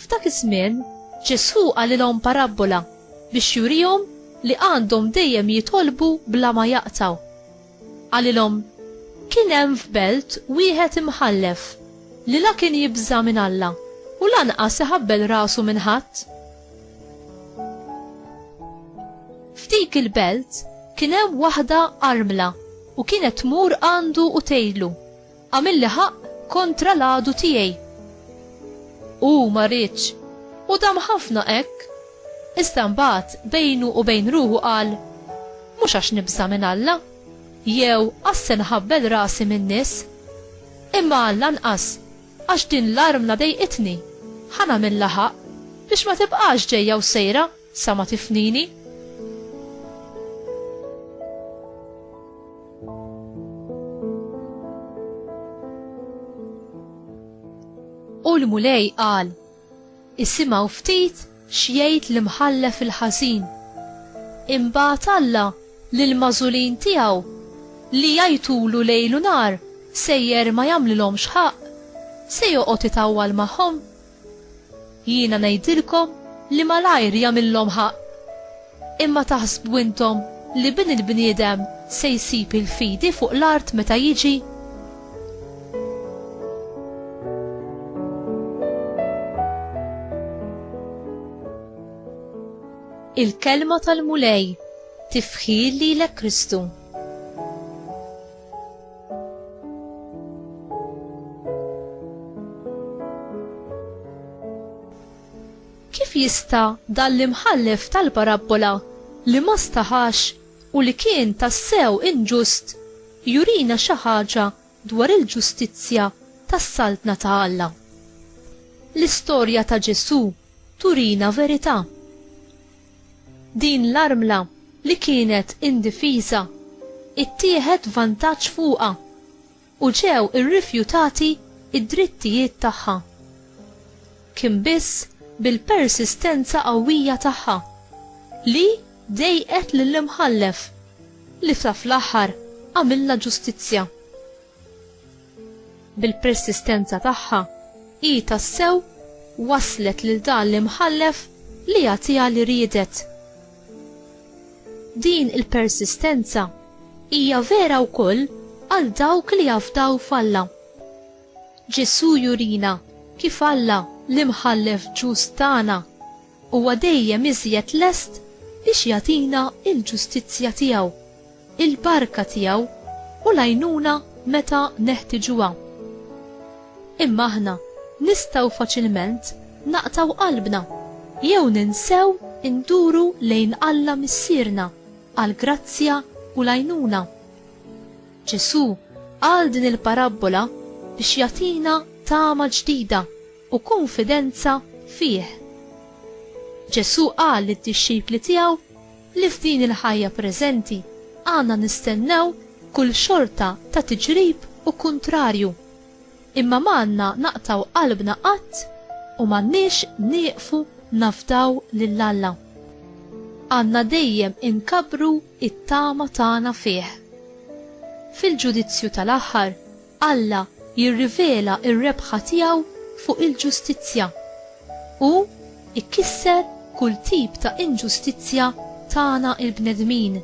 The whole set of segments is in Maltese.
F'dak iż-żmien, Ġesù qalilhom parabbola biex jurihom li għandhom dejjem jitolbu bla ma jaqtgħu. Qalilhom, Kien hemm f'belt wieħed imħallef, li la kien jibża' minn Alla u lanqas iħabbel rasu minn ħadd. F'dik il-belt kien hemm waħda armla u kienet tmur għandu u tgħidlu, Għamilli ħaqq kontra l-għadu tiegħi. Hu ma riedx, u dam ħafna hekk. Iżda mbagħad bejnu u bejn ruħu qal, Mhux għax nibża' minn Alla, jew għax se nħabbel rasi min-nies, imma għall-anqas għax din l-armla dejqitni, ħa nagħmilha ħaqq biex ma tibqax ġejja u sejra. Sa ma tifnini. U l-Mulej qal, Isimgħu ftit x'jgħid l-imħallef il-ħażin. Imbagħad Alla lill-magħżulin tiegħu li jgħajtulu lejl u nhar sejjer ma jagħmlilhomx ħaqq, se joqgħod itawwal magħhom Jiena ngħidilkom li malajr jagħmillhom ħaqq. Imma taħsbu intom li Bin il-bniedem se jsib il-fidi fuq l-art meta jiġi? Il-Kelma tal-Mulej, Tifħir lilek Kristu. Kif jista' dan l-imħallef tal-parabbola li ma staħax u li kien tassew inġust jurina xi ħaġa dwar il-ġustizzja tas-Saltna ta' Alla? L-istorja ta' Ġesù turina verità. Din l-armla li kienet indifiża ttieħed vantaġġ fuqha u ġew irrifjutati d-drittijiet tagħha. Kien biss bil-persistenza qawwija tagħha li dejqet lill-Imħallef li fl-aħħar għamilha ġustizzja. Bil-persistenza tagħha, hi tassew wasslet lil dan l-imħallef li jagħtiha li riedet. Din il-persistenza hija vera wkoll għal dawk li jafdaw f'Alla. Ġesù jurina kif Alla, l-Imħallef ġust tagħna, Huwa dejjem iżjed lest biex jagħtina l-ġustizzja tiegħu, il-barka tiegħu u l-għajnuna meta neħtiġuha. Imma aħna nistgħu faċilment naqtgħu qalbna jew ninsew induru lejn Alla Missierna għall-grazzja u l-għajnuna. Ġesù qal din il-parabbola biex jagħtina tama ġdida u kunfidenza fih. Ġesù qal lid-dixxipli tiegħu li f'din il-ħajja preżenti għandna nistennew kull xorta ta' tiġrib u kuntrarju, imma m'għandna naqtgħu qalbna qatt u m'għandniex nieqfu nafdaw lil Alla. Għandna dejjem inkabbru t-tama tagħna fih. Fil-ġudizzju tal-aħħar, Alla jirrivela r-rebħa tiegħu fuq il-ġustizzja. Hu jkisser kull tip ta' inġustizzja tagħna l-bnedmin.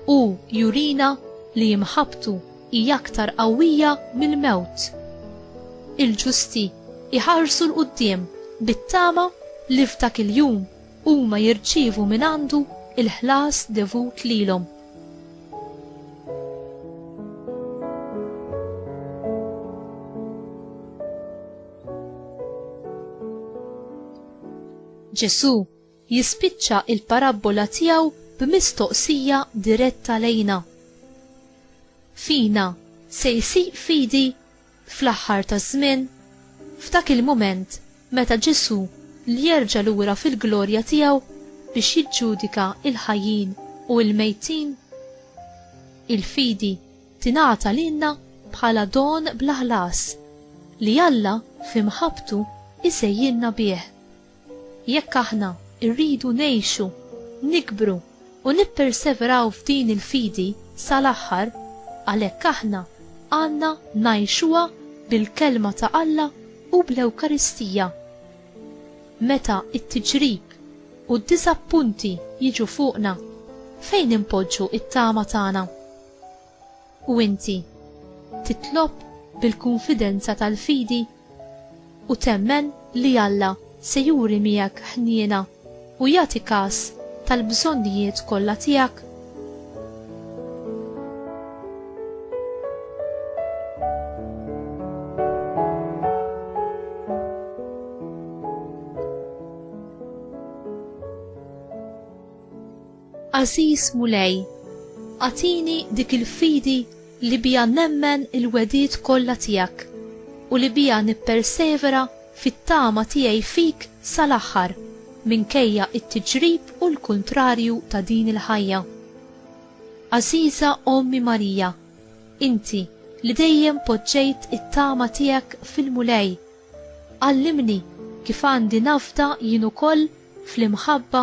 Hu jurina li imħabbtu hi aktar qawwija mill-mewt. Il-ġusti jħarsu 'l quddiem bit-tama li f'dak il-jum huma jirċievu mingħandu l-ħlas devut lilhom. Ġesù jispiċċa il-parabbola tiegħu b'mistoqsija diretta lejna. Fina se jsir fidi fl-aħħar taż-żmien, f'dak il-mument meta Ġesù ljerġa' lura fil-glorja tiegħu biex jiġġudika l-ħajjin u l-mejtin. Il-fidi tingħata lilna bħala don bla ħlas li Alla fi mħabbtu jsejjilna bih. Jekk aħna rridu ngħixu, nikbru u nipperseveraw f'din il-fidi sal-aħħar, għalhekk aħna għandna ngħixuha bil-Kelma ta' Alla u bl-Ewkaristija. Meta t-tiġrib u d-diżappunti jiġu fuqna, fejn inpoġġu t-tama tagħna? U inti titlob bil-kunfidenza tal-fidi u temmen li Alla se juri miegħek ħniena u jagħti kas tal-bżonnijiet kollha tiegħek? Għażiż Mulej, agħtini dik il-fidi li biha nemmen il-wegħdiet kollha tiegħek u li biha nippersevera fit-tama tiegħi fik sal-aħħar minkejja t-tiġrib u l-kuntrarju ta' din il-ħajja. Għażiża Ommi Marija, inti li dejjem poġġejt it-tama tiegħek fil-Mulej, għallimni kif għandi nafda jien ukoll fl-imħabba